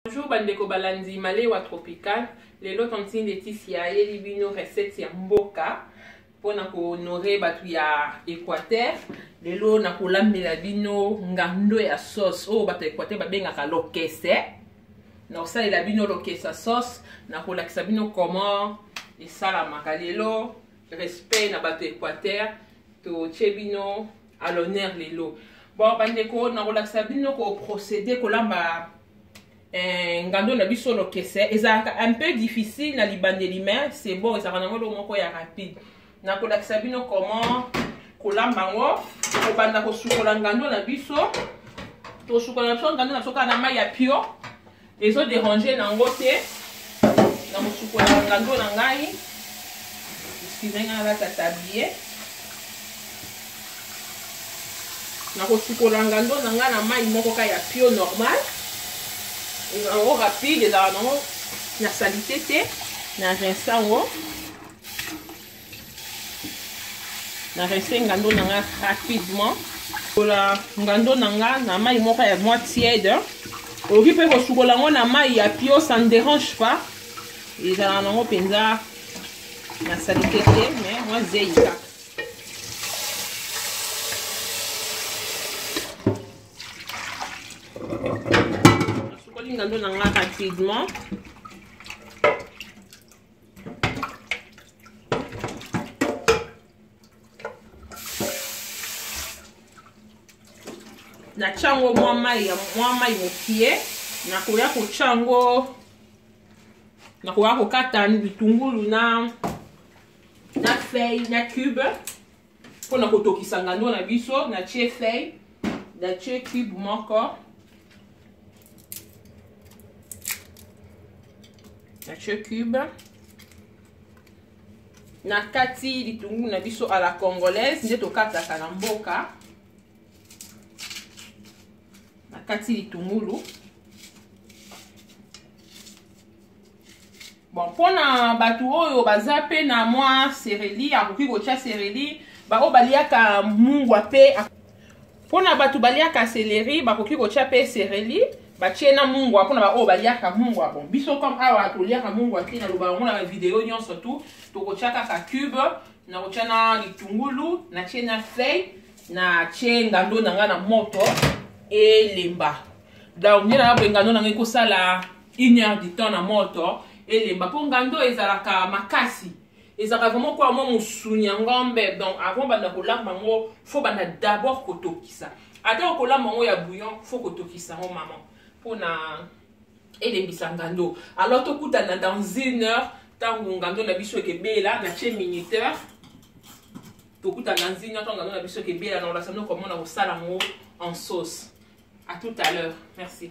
Bonjour bandeko balandi Malewa Tropical. Lelo tantine Laetitia ayeli bino recette ya mboka mpona kohonore bato ya Equateur. Lelo nakolambela bino ngando ya sauce oyo bato ya Equateur babengaka lokese. Nakosalela bino lokese ya sauce, nakolakisa bino comment esalamaka. Lelo respect na bato ya Equateur, totie bino à l'honneur lelo bon bandeko nakolakisa bino koprocéder kolamba eh, ngando na biso lokese ezalaka un peu difficile na libandeli mais c'est bon ezalaka nango eloko moko ya rapide nakolakisa bino comment kolamba yango kobanda kosukola ngando na biso tosukola na biso ngando na biso kaka na mai ya pio ezo derange nango te na kosukola ngando na ngai nsima ngai alata tablie na kosukola ngando na ngai na mai moko ka ya pio normal ezango rapide ezalaka nango na salite te na rinsa yango na rese ngando na nga rapidement kola ngando na nga na mai moko ya mwa tiede okoki mpe kosukola yango na mai ya pio ça ne dérange pas ezala nango mpenza na salite te mais mwa zei kaka nasukoli ngando na nga rapidement natya yango mwa mai ya mwa mai mokie nakoya kotya yango nakoya kokata bitungulu na na feuille na cube mpo na kotokisa ngando na biso na tie feuille na tie cube moko na tie cube na kati litungulu na biso à la congolaise nde tokataka na mboka na kati litungulu bon mpo na bato oyo baza mpe na mwa sereli akoki kotya sereli baoyo baliaka mungwa mpe mpo na bato baliaka seleri bakoki kotya mpe sereli batie na mungwa mpona baoyo baliaka mungwa bon biso comme awa toliaka mungwa te naloba yango na bavideo nyonso tu tokotya kaka cube nakotya na litungulu natie na fei natie ngando na ngai na moto elemba donc nde nayaboye ngando na ngai ekosala une heure du temps na moto elemba mpo ngando ezalaka makasi ezalaka vraimen kola mwa mosuni ya ngombe donc avant banda kolamba yango fo banda d'abord kotokisa ata okolamba yango ya bouillon fo kotokisa yango mama mpona elembisa ngando alors tokutana dans une heure ntango ngando na biso ekebela na tie minuteur tokutana dans une heure ntango ngando na biso ekebela na olasano komona kosala yango en sauce à tout à l'heure merci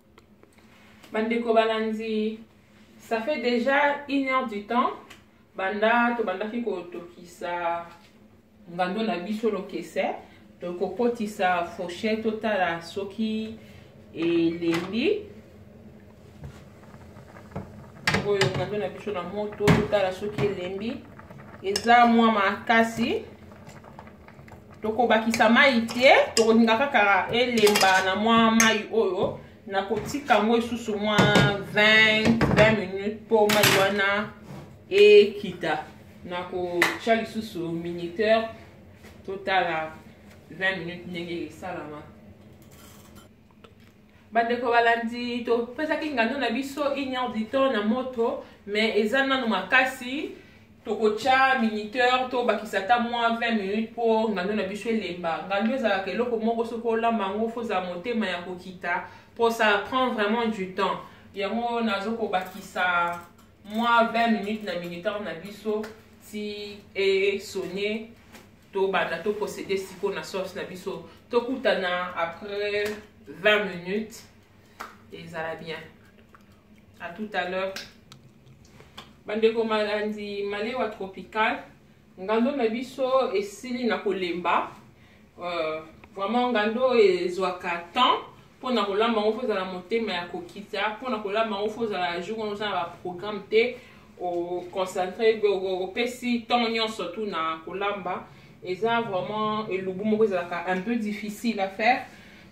bandeko balandi ça fait déjà une heure du temps banda tobandaki kotokisa ngando na biso lokese tokokotisa fauche totala soki elembi oyo ngando na biso na moto totala soki elembi eza mwa makasi tokobakisa mai te tokolinga kaka elemba na mwa mai oyo nakotika yango lisusu mwa 20 20 minutes mpo mai wana ekita nakotya lisusu minuteur totala 20 minutes ndenge esalama bandeko balandi topesaki ngando na biso une heure du temps na moto mais eza nano makasi tokotya minuteur tobakisa ata mwa 20 minutes mpo ngando na biso elemba ngando ezalaka eloko moko soki olamba yango fozala motema ya kokita mpo ça prend vraiment du temps yango nazo kobakisa mwa 20 minutes na minuteur na biso ti esone tobanda to procéder siko na sauce na biso tokutana après 20 minutes ezala bien à tout à l'heure bandeko malandi malewa tropical ngando na biso esili na kolemba euh, vraiment ngando ezwaka temps mpo na kolamba yango fo ozala motema ya kokita mpo na kolamba yango fo ozala jour wana oza na baprogramme te oconcentre opesi ntango nyonso tu na kolamba eza vraiment elubu moko ezalaka un peu difficile à faire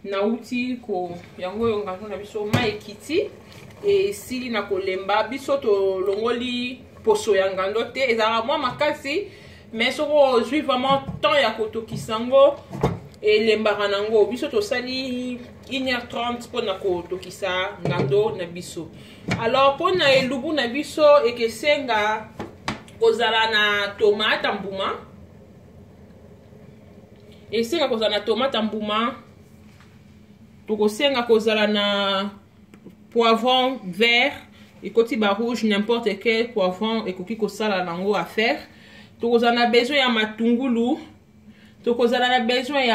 nauti ko yango oyo ngano na biso mai ekiti esili na kolemba biso tolongoli poso ya ngando te ezalaka mwa makasi mais soki ozwi vraiment temps ya kotokisa yango elembaka na yango biso tosali 1h30 mpo na kotokisa ngando na biso alors mpo na elubu na biso ekesenga kozala na tomate mbuma esenga kozala na tomate mbuma tokosenga kozala na poivron vert ekoti ba rouge n'importe quel poivron ekoki kosala nango affaire tokozala na besoin ya matungulu tokozala na besoin ya